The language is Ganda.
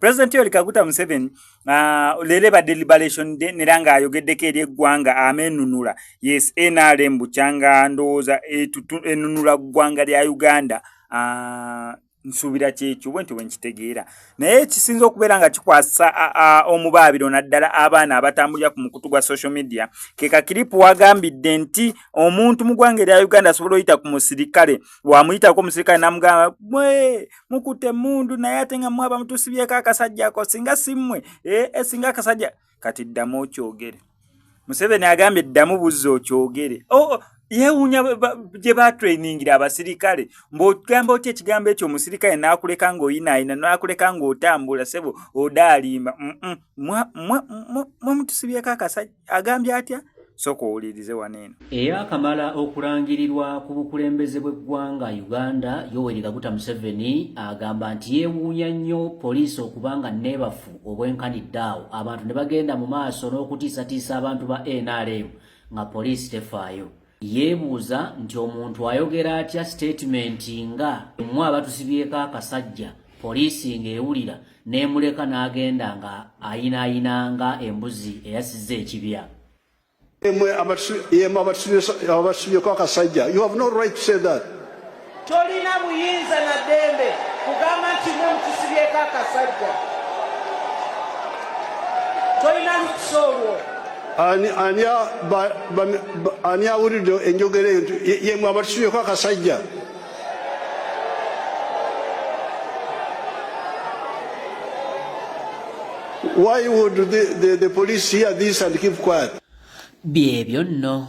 president yoli kaguta museveni ah, lele ba deliberation de neranga ayogeddeko eri eggwanga amenunula yes nrm bukyanga ndowooza enunula ggwanga lya uganda ah, nsuubira kyekyo bwentyo bwenkitegeera naye ekisinza okubeera nga kikwasa omubaabiro naddala abaana abatambulira ku mukutu gwa social media kekakiripu wagambidde nti omuntu mu gwanga erya uganda asobola oyita ku musirikale wamuyitako omusirikale namugamba mukutte emmundu naye ate nga mwaba mutusibyeko akasajja ako singa simmwe ee eh, eh, singa akasajja kati ddamu okyogere museveni agambye ddamu buzza okyogere oh, oh, yewuunya gye batrainingira abasirikale mbogamba otya ekigambo ekyo omusirikale naakuleka ng'oyinaayina naakuleka ng'otambula sebo odaalimba mwe mutusibyeko akasajja agambye atya sooka owulirize wano eno eyaakamala okulangirirwa ku bukulembeze bw'eggwanga uganda yoweri kaguta museveni agamba nti yeewuunya nnyo poliisi okuba nga neebafu obwenkanidde awo abantu ne bagenda mu maaso n'okutiisatiisa abantu ba nrm nga poliisi tefaayo Yeebuuza nti omuntu ayogera atya siteetimenti nga emu abatusibyeko akasajja poliisi ng'ewulira n'emuleka n'agenda nga ayinaayina nga embuzi eyasizza ekibya. Yemu abatusibyeko akasajja. You have no right to say that. Tolina buyinza na ddembe kugamba nti mwe mutusibyeko akasajja, tolina lukusa olwo. Ani awulidde enjogera eyo nti yemwe abatusibyeko akasajja? Why would the, the, the police hear this and keep quiet? Byebyo nno.